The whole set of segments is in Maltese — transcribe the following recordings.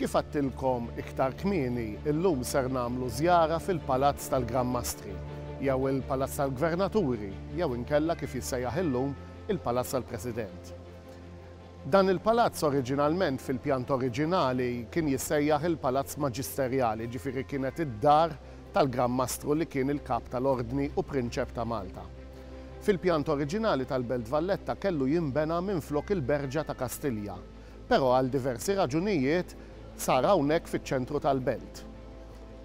Kif għadtilkom iktar kmieni, illum ser nagħmlu żjara fil-Palazz tal-Gran Mastri, jew il-Palazz tal-Gvernaturi, jew inkella kif jissejjaħ illum il-Palazz tal-President. Dan il-palazz oriġinalment fil-pjanta oriġinali kien jissejjaħ il-Palazz Maġisterjali, jiġifieri kienet id-dar tal-Gran Mastru li kien il-Kap tal-Ordni u Prinċep ta' Malta. Fil-pjanta oriġinali tal-Belt Valletta kellu jinbena minflok il-Berġa ta' Kastilja, Però għal diversi raġunijiet sar hawnhekk fiċ-ċentru tal-belt.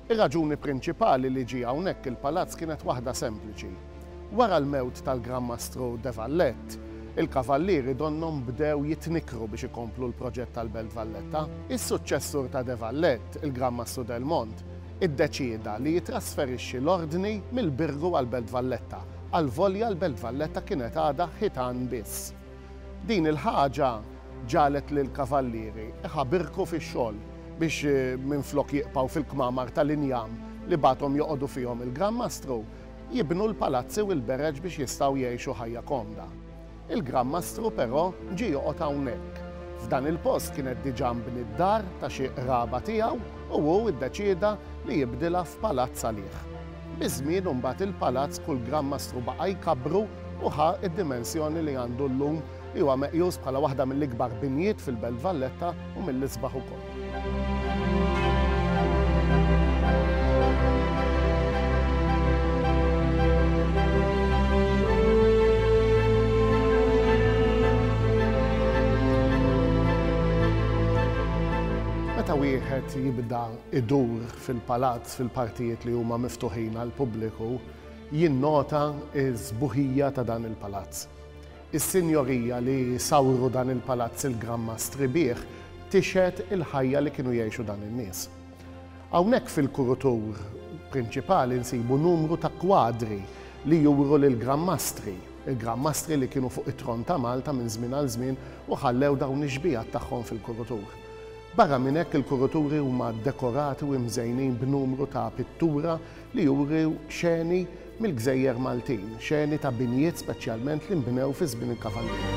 Ir-raġuni prinċipali li ġie hawnhekk il-palazz kienet waħda sempliċi. Wara l-mewt tal-Gran Mastru de Valette, il-Kavallieri donnhom bdew jitnikkru biex ikomplu l-proġett tal-Belt Valletta. Is-suċċessur ta' de Valette, il-Gran Mastru Delmont, iddeċieda li jittrasferixxi l-Ordni mill-Birgu għall-Belt Valletta, għalvolja l-Belt Valletta kienet għadha ħitan biss. Din il-ħaġa ġagħlet lill-kavallieri iħabirku fix-xogħol biex minflok jieqpgħu fil-kmamar tal-injam li bagħathom joqogħdu fihom il-Gran Mastru, jibnu l-palazzi u l-bereġ biex jistgħu jgħixu ħajja komda. Il-Gran Mastru però ġie joqgħod hawnhekk. F'dan il-post kienet diġà mbniet d-dar ta' xi qraba tiegħu u hu ddeċieda li jibdilha f'palazz għalih. Biż-żmien imbagħad il-palazz kull gramm mastru baqa' jkabbru u ħa d-dimensjoni li għandu llum li huwa meqjus bħala waħda mill-ikbar binjiet fil-Belt Valletta u mill-isbaħ ukoll. Meta wieħed jibda jdur fil-palazz fil-partijiet li huma miftuħin għall-pubbliku jinnota s-sbuħija ta' dan il-palazz. Is-sinjorija li sawru dan il-palazz il-Gran Mastri bih tixhed il-ħajja li kienu jgħixu dan in-nies. Hawnhekk fil-kurutur prinċipali nsibu numru ta' kwadri li juru lill-Gran Mastri, il-Gran Mastri li kienu fuq it-tron ta' Malta minn żmien għal żmien u ħallew dawn ix-xbiehat tagħhom fil-kurutur. Barra minn hekk il-kuruturi huma ddekorati u imżejnin b'numru ta' pittura li juru xeni mill-gżejjer Maltin, xeni ta' binjiet speċjalment li nbnew fi żmien il-Kavallieri.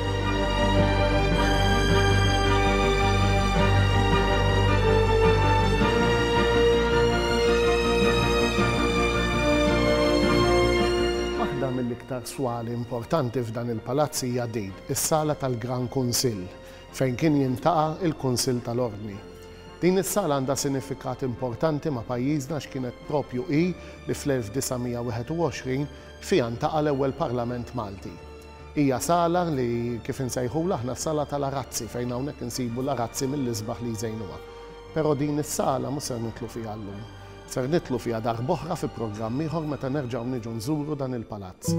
Waħda mill-iktar swali importanti f'dan il-palazz hija din, is-sala tal-Gran Kunsill, fejn kien jiltaqa' l-Kunsill tal-Ordni. Din is-sala għandha sinifikat importanti ma' pajjiżna għax kienet proprju hi li fl-1921 fiha ntaqa' l-ewwel Parlament Malti. Hija sala li, kif insejħulha aħna s-sala tal-arazzi fejn hawnhekk insibu l-arazzi mill-isbaħ li jżejnuha. Però din is-sala mhux ser nidħlu fiha llum. Ser nidħlu fiha darb'oħra fi programm ieħor meta nerġgħu niġu nżuru dan il-palazz.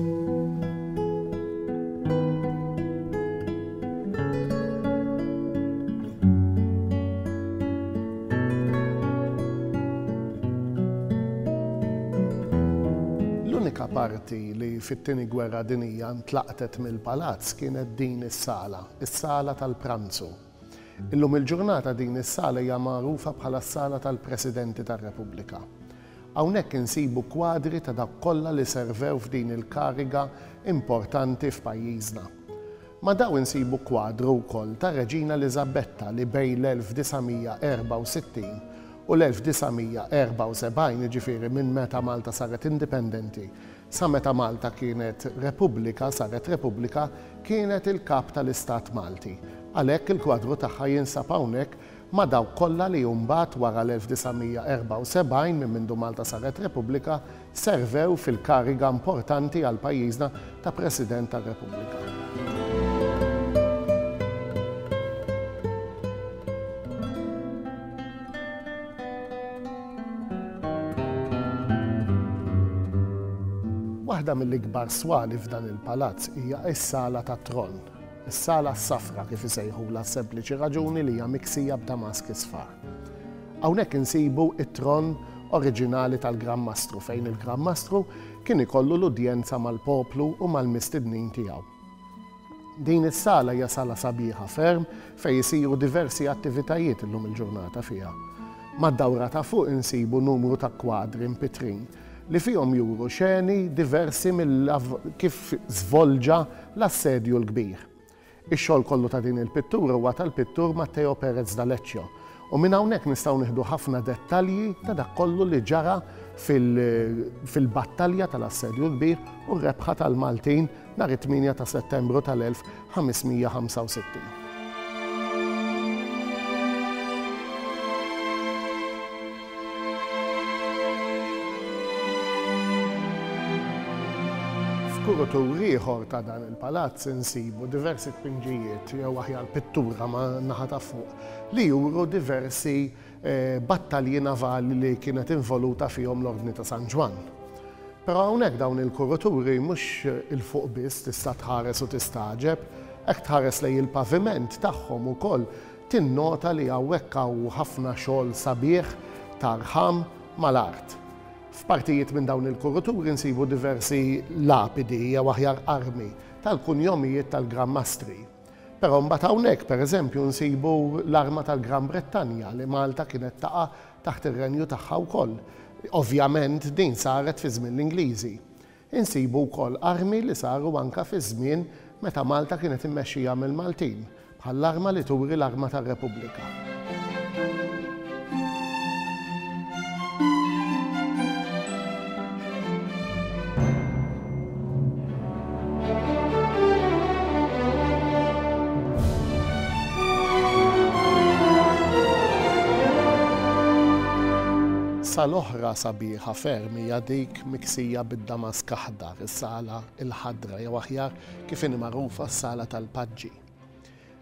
L-unika parti li fit-Tieni Gwerra Dinija ntlaqtet mill-palazz kienet din is-sala, is-sala tal-pranzu. Illum il-ġurnata din is-sala hija magħrufa bħala s-Sala tal-Presidenti tar-Repubblika. Hawnhekk insibu kwadri ta' dawk kollha li servew f'din il-kariga importanti f'pajjiżna. Ma' dawn insibu kwadru wkoll tar-Reġina Eliżabetta li bejn l-1964 u l-1974, jiġifieri minn meta Malta saret indipendenti, Sa meta Malta kienet Repubblika, saret Repubblika, kienet il-Kap tal-Istat Malti. Għalhekk il-kwadru tagħha jinsab hawnhekk ma' dawk kollha li mbagħad wara l-1974, minn mindu Malta saret Repubblika, servew fil-kariga importanti għal pajjiżna ta' President tar-Repubblika. Waħda mill-ikbar swali f'dan il-palazz hija s-Sala tat-Tron, is-Sala s-Safra kif isejħulha s-sempliċi raġuni li hija miksija b'damask isfar. Hawnhekk insibu t-tron oriġinali tal-Gran Mastru fejn il-Gran Mastru kien ikollu l-udjenza mal-poplu u mal-mistednin tiegħu. Din is-sala hija sala sabiħa ferm fejn isiru diversi attivitajiet illum il-ġurnata fiha. Mad-dawra ta' fuq insibu numru ta' kwadri mpitrin li fihom juru xeni diversi mill kif żvolġa l-Assedju l-Kbir. Ix-xogħol kollu ta' din il-pittura huwa tal-pittur Matteo Perez da Leccio u minn hawnhekk nistgħu nieħdu ħafna dettalji ta' dak kollu li ġara fil-battalja tal-Assedju l-Kbir u r-rebħa tal-Maltin nhar it-8 ta' Settembru tal-1565. F'kurutur ieħor ta' dan il-palazz insibu diversi tpinġijiet jew aħjar pittura man-naħa ta' fuq li juru diversi battalji navali li kienet involuta fihom l-Ordni ta' San Ġwann. Però hawnhekk dawn il-kuruturi mhux 'il fuq biss tista' tħares u tistagħġeb, hekk tħares lejn il-paviment tagħhom ukoll tinnota li hawnhekk hawn ħafna xogħol sabiħ ta' rħam mal-art. F'partijiet minn dawn il-kuruturi nsibu diversi lapidi jew aħjar armi tal-kunjomijiet tal-Gran Mastri. Però mbagħad hawnhekk, pereżempju, nsibu l-arma tal-Gran Brittanja li Malta kienet taqa' taħt ir-renju tagħha wkoll. Ovvjament din saret fi żmien l-Ingliżi. Insibu wkoll armi li saru anke fi żmien meta Malta kienet immexxija mill-Maltin, bħall-arma li turi l-arma tar-Repubblika. Sala oħra sabiħa ferm hija dik miksija bid-damask aħdar, is-Sala l-Ħadra jew aħjar kif inhi magħrufa s-Sala tal-Paġġi.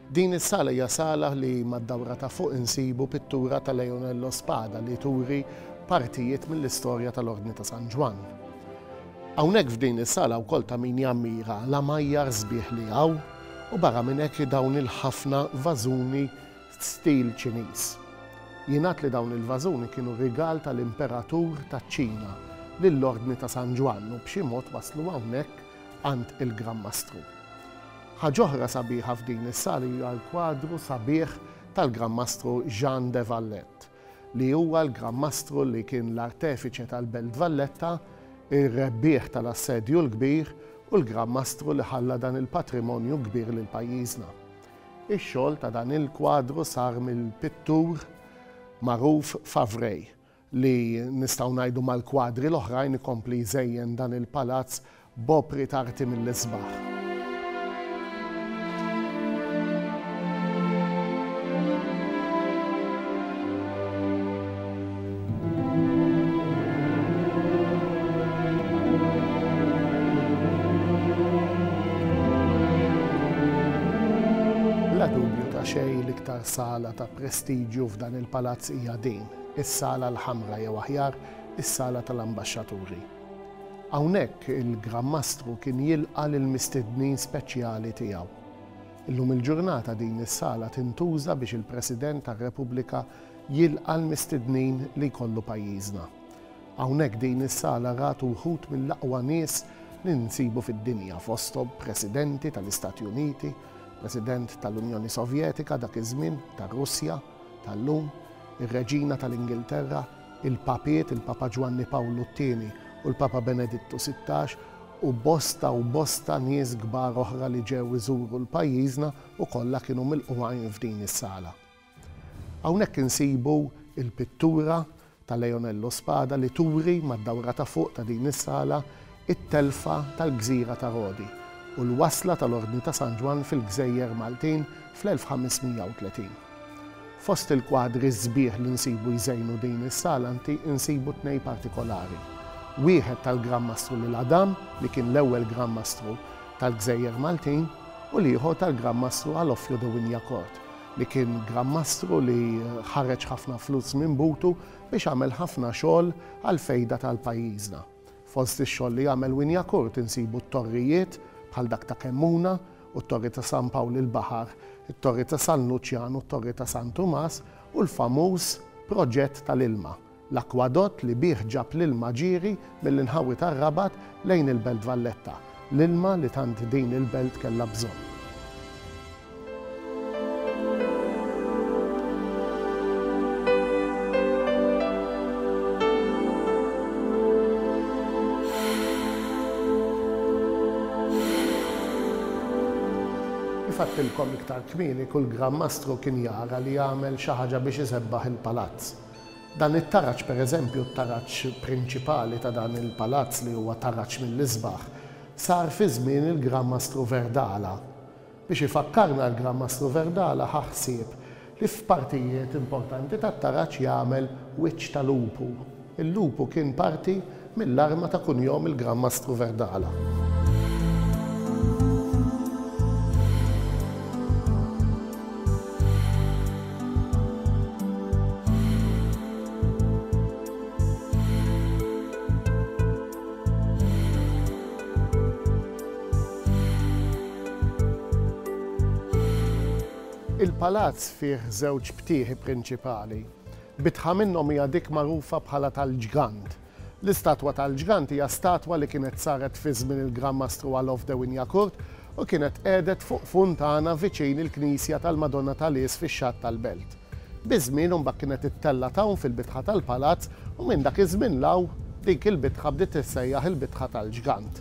Din is-sala hija sala li mad-dawra ta' fuq insibu pittura ta' Leonello Spada li turi partijiet mill-istorja tal-Ordni ta' San Ġwann. Hawnhekk f'din is-sala wkoll ta' min jammira l-għamajjar sbieħ li hawn u barra minn hekk dawn il-ħafna vażuni stil Ċiniż. Jingħad li dawn il-vażuni kienu rigal tal-Imperatur taċ-Ċina lill-Ordni ta' San Ġwann u b'xi mod waslu hawnhekk għand il-Gran Mastru. Ħaġa oħra sabiħa f'din is-sala hija l-kwadru sabiħ tal-Gran Mastru Jean de Valette, li huwa l-Gran Mastru li kien l-artefiċe tal-Belt Valletta, ir-rebbieħ tal-Assedju l-Kbir u l-Gran Mastru li ħalla dan il-patrimonju kbir lil pajjiżna. Ix-xogħol ta' dan il-kwadru sar mill-pittur magħruf Favray li nistgħu ngħidu mal-kwadri l-oħrajn ikompli jżejjen dan il-palazz b'opri t'arti mill-isbaħ. sala ta' prestiġju f'dan il-palazz hija din. is-Sala l-Ħamra jew aħjar is-Sala tal-Ambaxxaturi. Hawnhekk il-Gran Mastru kien jilqa' lill-mistednin speċjali tiegħu. Illum il-ġurnata din is-sala tintuża biex il-President tar-Repubblika jilqa' l-mistednin li jkollu pajjiżna. Hawnhekk din is-sala rat wħud mill-aqwa nies li nsibu fid-dinja fosthom Presidenti tal-Istati Uniti, President tal-Unjoni Sovjetika dak iż-żmien, tar-Russja, tal-lum, ir-Reġina tal-Ingilterra, il-Papiet, il-Papa Ġwanni Pawlu t-Tieni u l-Papa Benedittu Sittax u bosta u bosta nies kbar oħra li ġew iżuru l-pajjiżna u kollha kienu milqugħin f'din is-sala. Hawnhekk insibu l-pittura ta' Leonel Lo Spada li turi mad-dawra ta' fuq ta' din is-sala t-telfa tal-gżira ta' Rodi u l-wasla tal-Ordni ta' San Ġwann fil-gżejjer Maltin fl-1530. Fost il-kwadri sbieħ li nsibu jżejnu din is-sala anti nsibu tnej partikolari, wieħed tal-Gran Mastru Lil Adam li kien l-ewwel Gran Mastru tal-gżejjer Maltin u l-ieħor tal-Gran Mastru Alofio de Wignacourt, li kien Gran Mastru li ħareġ ħafna flus minn butu biex għamel ħafna xogħol għall-fejda tal-pajjiżna. Fost ix-xogħol li għamel Wynyacourt insibu t-torrijiet bħal dak ta' Kemmuna u t-Torri ta' San Pawl il-Baħar, it-Torri ta' San Luċjan u t-Torri ta' San Tumas u l-famuż proġett tal-ilma. L-akkwadott li bih ġab l-ilma ġieri mill-inħawi tar-Rabat lejn il-Belt Valletta, l-ilma li tant din il-belt kellha bżonn. Kif għedtilkom iktar kmieni kull Gran Mastru kien jara li jagħmel xi ħaġa biex isebbaħ il-palazz. Dan it-taraġ, pereżempju t-taraġ prinċipali ta' dan il-palazz li huwa taraġ mill-isbaħ, sar fi żmien il-Gran Mastru Verdala. Biex ifakkarna l-Gran Mastru Verdala ħa ħsieb li f'partijiet importanti tat-taraġ jagħmel wiċċ ta' lupu. Il-lupu kien parti mill-arma ta' kunjom il-Gran Mastru Verdala. Il-palazz fih żewġ btieħi prinċipali. Bitħa minnhom hija dik magħrufa bħala tal-Ġgant. L-istatwa tal-Ġgant hija statwa li kienet saret fi żmien il-Gran Mastru Alof de Wignacourt u kienet qegħdet fuq funtana viċin il-knisja tal-Madonna ta' Lies fix-Xatt tal-Belt. Biż-żmien imbagħad kienet ittellgħet hawn fil-bitħa tal-palazz u minn dak iż-żmien 'l hawn dik il-bitħa bdiet tissejjaħ il-bitħa tal-Ġgant.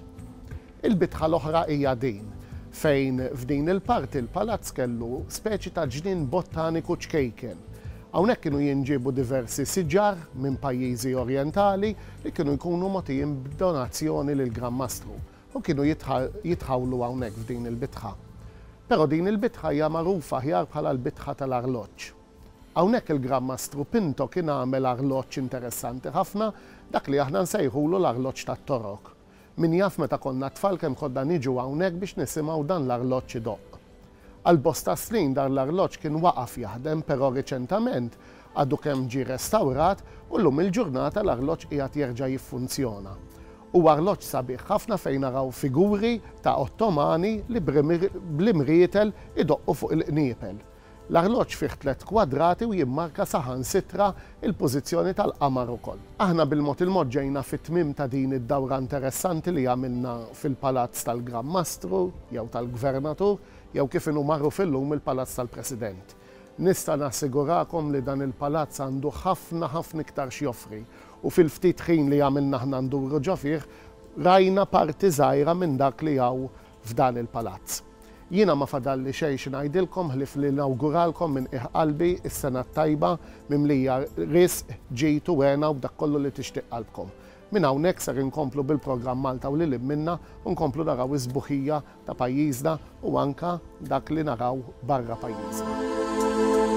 Il-bitħa l-oħra hija din, fejn f'din il-parti l-palazz kellu speċi ta' ġnien bottaniku ċkejken. Hawnhekk kienu jinġiebu diversi siġar minn pajjiżi orjentali li kienu jkunu mogħtijin b'donazzjoni lill-Gran Mastru u kienu jitħawlu hawnhekk f'din il-bitħa. Però din il-bitħa hija magħrufa aħjar bħala l-bitħa tal-arloġġ. Hawnhekk il-Gran Mastru Pinto kien għamel arloġġ interessanti ħafna, dak li aħna nsejħulu l-arloġġ tat-Torok. Min jaf meta konna tfal kemm konna niġu hawnhekk biex nisimgħu dan l-arloġġ idoqq. Għal bosta snin dan l-arloġġ kien waqaf jaħdem però riċentament għadu kemm ġie restawrat u llum il-ġurnata l-arloġġ qiegħed jerġa' jiffunzjona. Huwa arloġġ sabiħ ħafna fejn naraw figuri ta' Ottomani li bl-imrietel idoqqu fuq il-qniepel. L-arloġġ fih tliet kwadrati u jimmarka saħansitra l-pożizzjoni tal-qamar ukoll. Aħna bil-mod il-mod ġejna fit-tmiem ta' din id-dawra interessanti li għamilna fil-Palazz tal-Gran Mastru, jew tal-Gvernatur, jew kif inhu magħruf illum il-Palazz tal-President. Nista' nassigurakom li dan il-palazz għandu ħafna ħafna iktar x'joffri u fil-ftit ħin li għamilna aħna nduru ġo fih rajna parti żgħira minn dak li hawn f'dan il-Palazz. Jiena ma fadalli xejn xi ngħidilkom ħlief li nawguralkom minn qiegħ qalbi s-Sena t-tajba mimlija risq, ġid u hena u b'dak kollu li tixtieq qalbkom. Minn hawnhekk ser inkomplu bil-programm Malta u lil hinn minnha u nkomplu naraw is-sbuħija ta' pajjiżna u anke dak li naraw barra pajjiżna.